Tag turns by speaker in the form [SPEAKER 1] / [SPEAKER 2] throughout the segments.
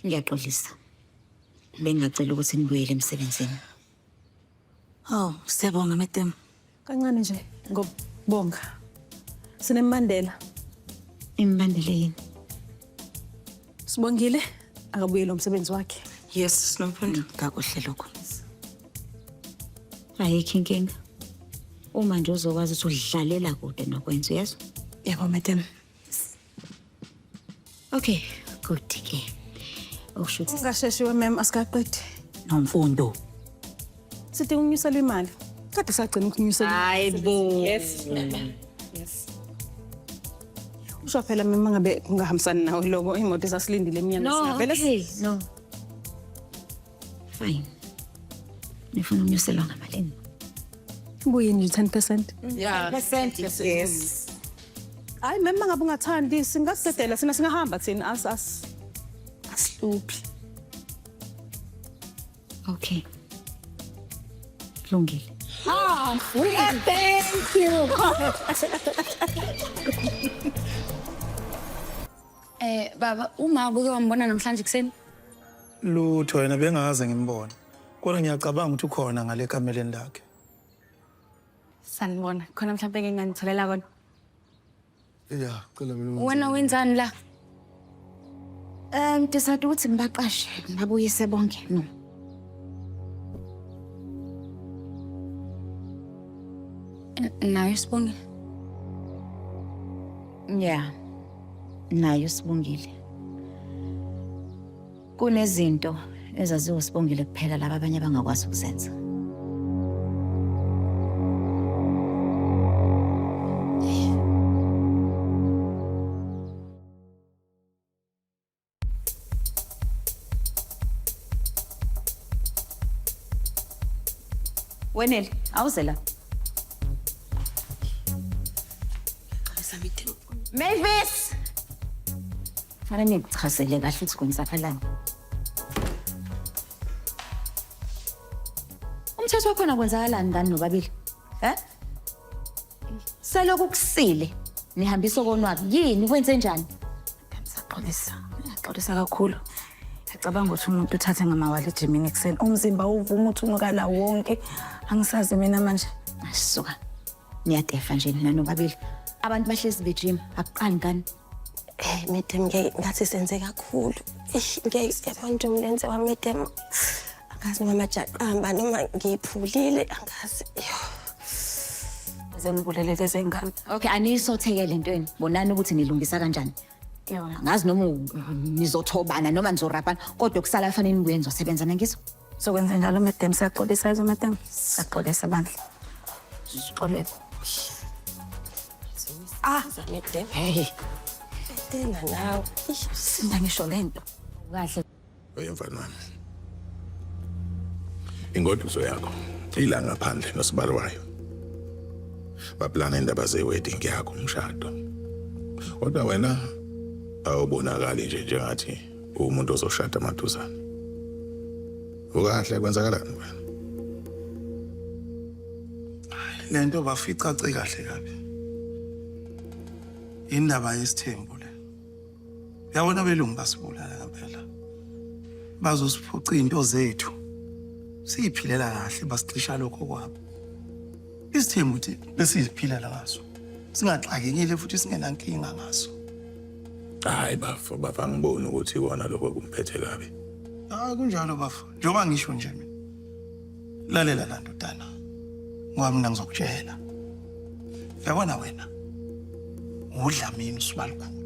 [SPEAKER 1] Ngiyaxolisa. Bengingacela ukuthi nibuyele emsebenzini.
[SPEAKER 2] Oh, siyabonga madam. Kancane nje
[SPEAKER 3] ngobonga. Sinembandela.
[SPEAKER 1] Imbandela yini? Sibongile
[SPEAKER 3] akabuyele umsebenzi wakhe. Yes, sinomfundo.
[SPEAKER 2] Kakuhle lokho.
[SPEAKER 1] Ayikho inkinga. Uma nje uzokwazi ukuthi udlalela kude nokwenza, uyezwa? Yebo madam. Okay, good ke. Okusho ukuthi Ungasheshiwe mem
[SPEAKER 3] asikaqedi. nomfundo. Sithi unyuselwe imali. Kade sagcina ukunyuselwa. Hayi bo. Yes. Yes. Usho phela mem ngabe kungahambisani nawe lokho imoto esasilindile emnyango No, singavele okay. No.
[SPEAKER 1] Fine. Nifuna unyuselwa ngamalini?
[SPEAKER 3] Buyini 10%? Yeah. Percent yes.
[SPEAKER 1] Hayi
[SPEAKER 3] mem mangabe ungathandi singasedela sina singahamba thina as as asiluphi.
[SPEAKER 1] Okay. Kulungile. Ah, thank
[SPEAKER 3] you.
[SPEAKER 4] Eh baba uma ubuke wambona namhlanje kuseni? Lutho
[SPEAKER 5] yena bengaze ngimbone. Kodwa ngiyacabanga ukuthi ukhona ngale kameleni lakhe. Sanibona.
[SPEAKER 4] Khona mhlawumbe ke nganitholela kona.
[SPEAKER 5] Ya, cela mina. Wena wenzani la?
[SPEAKER 4] Um,
[SPEAKER 1] ndisade ukuthi ngibaqashe ngabuyise bonke no. Nayo
[SPEAKER 4] sibongile.
[SPEAKER 1] Yeah. Nayo sibongile. Kunezinto ezaziwa usibongile kuphela laba abanye abangakwazi ukuzenza. Wenel, awuze la. Mavis! Fana nikuchazele kahle ukuthi kwenzakalani. Umthetho wakhona kwenzakalani ngani nobabili? Eh? Selokhu kusile nihambisa okonwabi yini kwenze njani? Ngisaxolisa. Ngiyaxolisa
[SPEAKER 2] kakhulu. Ngicabanga ukuthi umuntu uthathe ngamawala ejimini ekuseni. Umzimba uvuma ukuthi unukala wonke. Angisazi mina manje. Asuka.
[SPEAKER 1] Niyadefa nje nina nobabili. Abantu bahlezi bejima akuqani kani? Hey madam
[SPEAKER 6] ngeke ngathi senze kakhulu. Eish ngeke yabona nje umlenze wami madam. Angazi noma majaqamba noma ngiphulile angazi. Yo.
[SPEAKER 2] Zenibulele lezi ngane. Okay, aniyisotheke
[SPEAKER 1] le ntweni. Bonani ukuthi nilungisa kanjani. Yona. Ngazi noma u- nizothobana noma nizorabhana kodwa kusala kufanele nibuye nizosebenza nangizwa. Sokwenza njalo
[SPEAKER 2] madam siyaxolisa yizo madam. Siyaxolisa bandla. Sixolisa.
[SPEAKER 6] Ah, madam. Hey.
[SPEAKER 1] Tena
[SPEAKER 6] nawe. Sinda ngisho
[SPEAKER 2] lento. Kahle.
[SPEAKER 1] Oyemfana wami.
[SPEAKER 7] Ingoduso yakho ilanga phandle nosibali wayo. Baplana indaba zewedding yakho umshado. Kodwa wena awubonakali nje njengathi uwumuntu ozoshada maduzane ukahle kwenzakalani wena
[SPEAKER 5] le nto baficace kahle kabi indaba yesithembu le yabona belungu basibulala ngempela bazosiphuca izinto zethu siyiphilela kahle basicisha lokho kwabo Isithembu ukuthi besiziphilela ngaso. Singaxakekile futhi singenankinga ngaso.
[SPEAKER 7] Hayi bafo bafo angiboni ukuthi ikona lokho kumphethe kabi. Ah kunjalo
[SPEAKER 5] bafo. Njengoba ngisho nje mina. Lalela la ndodana. Ngoba mina ngizokutshela. Yabona wena. Udlamini usibalukhulu.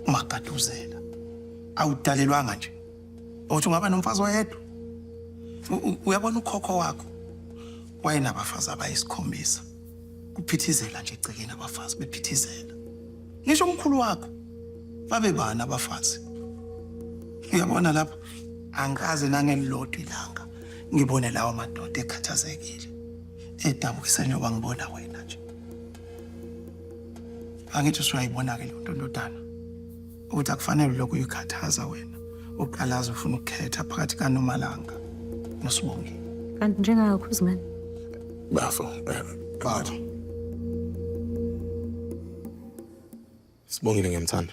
[SPEAKER 5] Umagaduzela. Awudalelwanga nje. Uthi ungaba nomfazi oyedwa. U- u- Uyabona ukhokho wakho. Wayenabafazi abayisikhombisa. Kuphithizela nje egcekeni abafazi bephithizela. Ngisho umkhulu wakho babebani abafazi. Uyabona lapha angikaze nangelilodwa ilanga ngibone lawa madoda ekhathazekile edabukisa njengoba ngibona wena nje. Angithi usuyayibona-ke le nto ndodana. ukuthi akufanele lokhu uyikhathaza wena uqalaza ufuna ukukhetha phakathi kanomalanga nosibongi kanti njengakho
[SPEAKER 1] uzimani bafo
[SPEAKER 7] eh, bafo sibongile ngiyamthanda